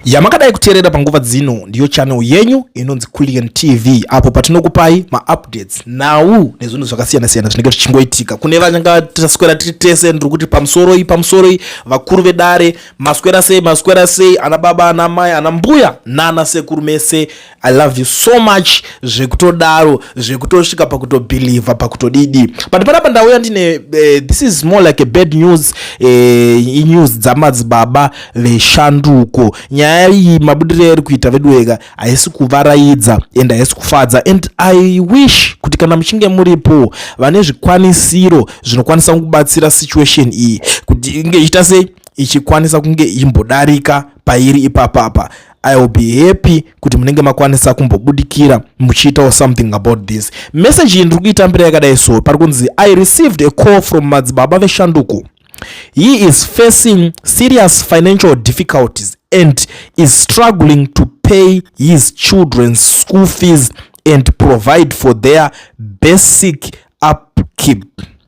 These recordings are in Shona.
yamakadai kuteerera panguva dzino ndiyo channel yenyu inonzi Kullian TV apo patinokupai maupdates nhau nezvinhu zvakasiyana siyana zvinenge zvichingoitika kune vanga taswera tiri tese ndiri kuti pamusoroi pamusoroi vakuru vedare maswera sei maswera sei ana baba ana mai ana mbuya nana sekuru mese I loved you so much zvekutodaro zvekutosvika pakutobhilivha pakutodidi but panapa ndauya ndine uh, this is more like a bad news uh, eh, inews dzamadzibaba veshanduko nyaya iyi mabudirei ari kuita veduweka haisi kuvaraidza and haisi kufadza and i wish kuti kana muchinge muripo vane zvikwanisiro zvinokwanisa kubatsira situation iyi kuti inge ichita sei ichikwanisa kunge imbodarika pairi ipapapa I will be happy kuti munenge makwanisa kumbobudikira muchiitawo something about this message iyi ndiri kuitambira yakadai so pari kunzi I received a call from madzibaba veshanduko he is facing serious financial difficulties and is struggling to pay his children's school fees and provide for their basic upkeep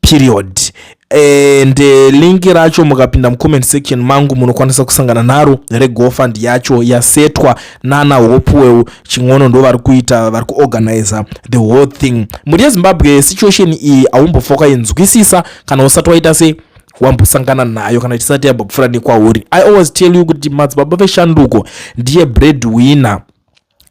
period and eh, link racho mukapinda mucomment section mangu munokwanisa kusangana naro regofund yacho yasetwa nana hopuweu chin'ono ndo vari kuita vari kuorganiza the whole thing mhuri yezimbabwe situation iyi aumbofoka inzwisisa kana usati waita sei wambosangana nayo kana chisati yabva kufura nekwauri i always tell you kuti madzibaba veshanduko ndiye bread winner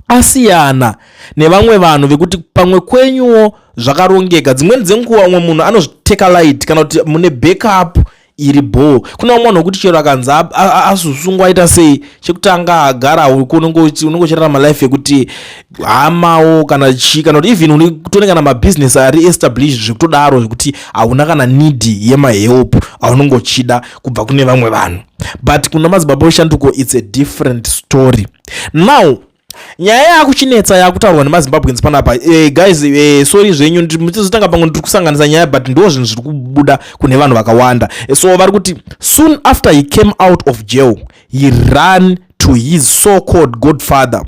asiyana nevamwe vanhu vekuti pamwe kwenyuwo zvakarongeka dzimweni dzenguva umwe munhu anozviteka light kana kuti mune backup iri bhoo kuna umwe munhu wekuti chero akanzi azosungwa aita sei chekutanga agara uko unenge uchirarama life yekuti hamawo kana chii kana kuti even unotone kana mabhizinesi ari established zvekutodaro zvekuti hauna kana need yemahelp aunenge uchida kubva kune vamwe vanhu but kuna madzibaba weshanduko its a different story now nyaya yakuchinetsa yakutaurwa nemazimbabweans panapa eh, guys eh, sorry zvenyu mutizotanga pamwe ndiri kusanganisa nyaya but ndo zvinhu zviri kubuda kune vanhu vakawanda eh, so vari kuti soon after he came out of jail he ran to his so called godfather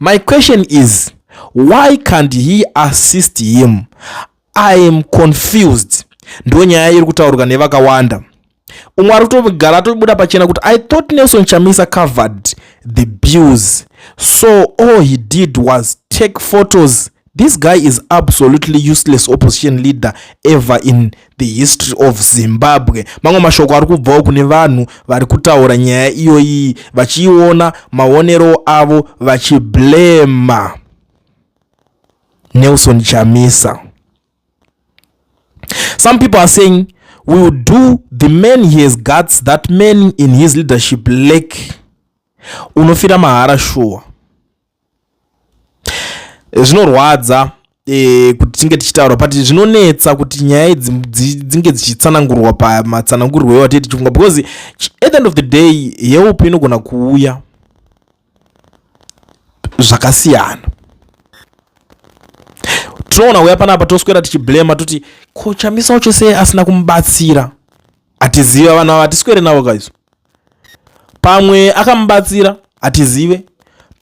my question is why can't he assist him I am confused ndo nyaya iri kutaurwa nevakawanda umwe ari kutogara atobuda pachena kuti i thought nelson chamisa covered the bills so all he did was take photos this guy is absolutely useless opposition leader ever in the history of zimbabwe mamwe mashoko ari kubvawo kune vanhu vari kutaura nyaya iyoyi vachiiona maonero avo vachiblema Nelson Chamisa. Some people are saying we will do the man he has guts that man in his leadership lack. Unofira mahara shuwa. Zvinorwadza e, kuti tinge tichitaura but zvinonetsa kuti nyaya idzi dzinge dzichitsanangurwa pamatsanangurwo ewatii tichifunga because at the end of the day yeupi inogona kuuya zvakasiyana tinoona uya panapa toswera tichiblema toti ko chamisa wacho sei asina kumubatsira hatiziva vanhu ava hatiswere navo kaizo pamwe akamubatsira hatizive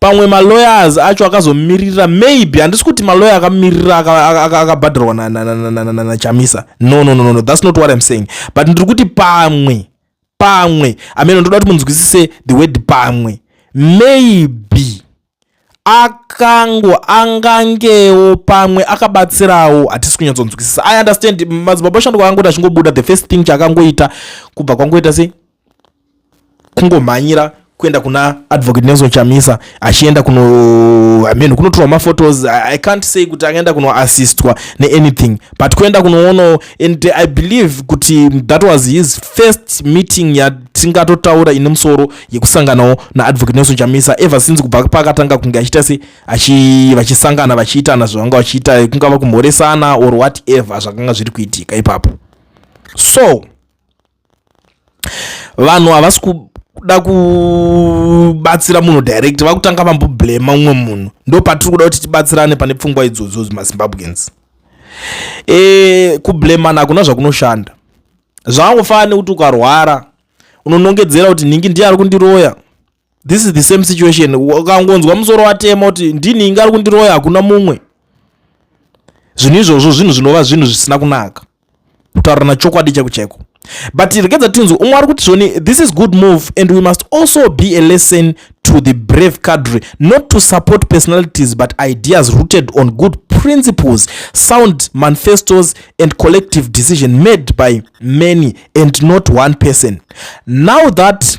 pamwe malawyers acho akazomiririra maybe handisi kuti malawyer akamiririra akabhadharwa nachamisa no no no no that's not what im saying but ndiri kuti pamwe pamwe ameno ndoda kuti munzwisise the word pamwe maybe akango angangewo pamwe akabatsirawo hatisi kunyatsonzwisisa i understand madzibaba oshando kwaangoti achingobuda the first thing chaakangoita kubva kwangoita sei kungomhanyira kuenda kuna advocate Nelson Chamisa achienda kuno I mean kunotorwa ma photos I can't say kuti akaenda kuno assistwa ne anything but kuenda kunoono and I believe kuti that was his first meeting ya tingatotaura ine musoro yekusanganawo na advocate Nelson Chamisa ever since kubva pakatanga kunge achiita se achi vachisangana vachiitana zvavanga vachiita kungava kumhoresana or whatever zvakanga zviri kuitika ipapo so vanhu havasi kuda kubatsira munhu direct vakutanga vamboblema umwe munhu ndo patiri kuda kuti tibatsirane pane pfungwa idzodzo mazimbabweans e, eh, kublemana hakuna zvakunoshanda zvakangofanira kuti ukarwara unonongedzera kuti nhingi ndiye ari kundiroya this is the same situation ukangonzwa musoro watema kuti ndini inga ari kundiroya hakuna mumwe zvinhu izvozvo zvinhu zvinova zvinhu zvisina kunaka kutaurana chokwadi chako chaiko but regedza tinzwe umwe ari kuti zvoni this is good move and we must also be a lesson to the brave cadre not to support personalities but ideas rooted on good principles sound manifestos and collective decision made by many and not one person now that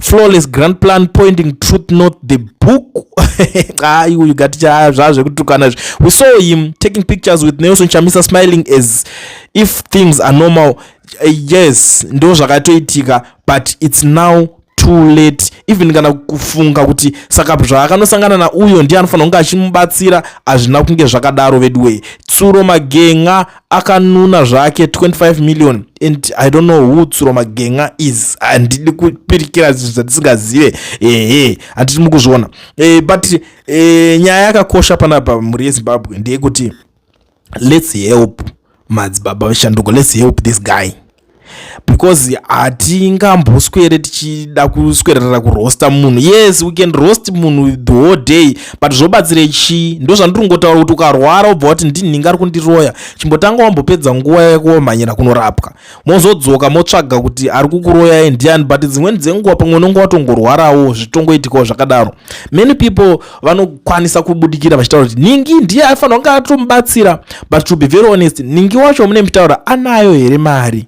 flawless grand plan pointing truth not the book hayi uyu gati zvaa zvekutukana izvi we saw him taking pictures with nelson chamisa smiling as if things are normal uh, yes ndo zvakatoitika but its now too late even kana kufunga kuti saka zvaakanosangana nauyo ndiye anofanira kunge achimubatsira hazvina kunge zvakadaro veduwee tsuro magenga akanuna zvake 25 million and i don't know who tsuro magenga is handidi kupirikira zvinhu zvandisingazive ehe handiti mukuzviona e, but e, nyaya yakakosha panapa mhuri yezimbabwe ndeyekuti let's help madzibaba veshanduko let's help this guy because hatingamboswere tichida kuswererera kurosta munhu yes we can roast munhu the whole day but zvobatsire chii ndo zvandiri kungotaura kuti ukarwara wobva wati ndinhinga ari kundiroya chimbotanga wambopedza nguva yako wamhanyira kunorapwa mozodzoka motsvaga kuti ari kukuroyai ndiani but dzimweni dzenguva pamwe unonge watongorwarawo zvitongoitikawo zvakadaro many people vanokwanisa kubudikira vachitaura kuti ningi ndiye aifanira kunge atomubatsira but to be very honest ningi wacho mune mitaura anayo here mari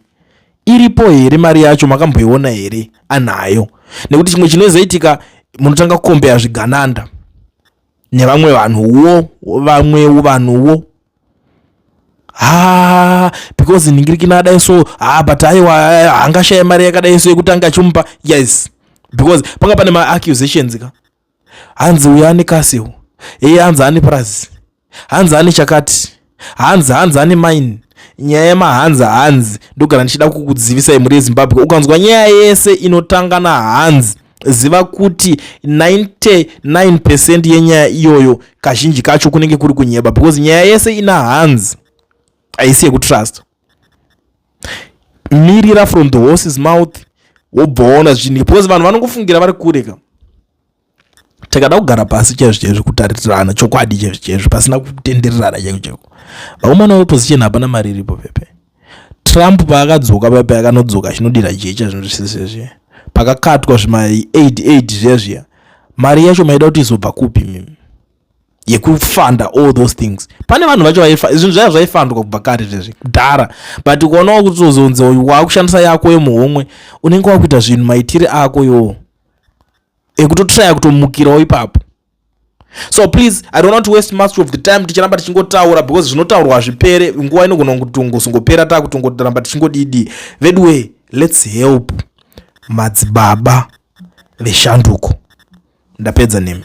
iripo here mari yacho makamboiona here anayo nekuti chimwe chinozoitika munotanga kukombeya zvigananda nevamwe vanhuwo vamwewo vanhuwo ha because ningirikina adai so ha but aiwa hangashaye mari yakadai so yekutanga achimupa yes because panga pane maaccusations ka hanzi uyu ane castle eye hanzi ane purazi hanzi ane chakati hanzi hanzi ane mine nyaya yemahanzi hanzi ndogara ndichida kukudzivisai mhuri yezimbabwe ukanzwa nyaya yese inotanga nahanzi ziva kuti 99 percent yenyaya iyoyo kazhinji kacho kunenge kuri kunyeba because nyaya yese ina hanzi haisi yekutrust mirira from the horses mouth wobvaona zvinhu because vanhu vanongofungira vari kure ka takada kugara pasi chaizvo chaizvo kutaritirana chokwadi chaizvo chaizvo pasina kutendererana chaiko chaiko vakomana veposition hapana mari iripo pepe trump paakadzoka pepe akanodzoka achinodira jecha zvinhu zvisese zviya pakakatwa zvima 88 zviya zviya mari yacho maida kuti izobva kupi mimi yekufanda all those things pane vanhu vacho zvinhu zvaya zvaifandwa kubva kare zvezvi kudhara but ukaonawo kuti uzonzi uyu waakushandisa yako yemuhomwe unenge wakuita zvinhu maitire ako yoo ekutotraya kutomukirawo ipapo so please i don't want to waste much of the time ticharamba tichingotaura because zvinotaurwa hazvipere nguva inogona kutongozongopera taa kutongotoramba tichingodidi veduway let's help madzibaba veshanduko ndapedza nemi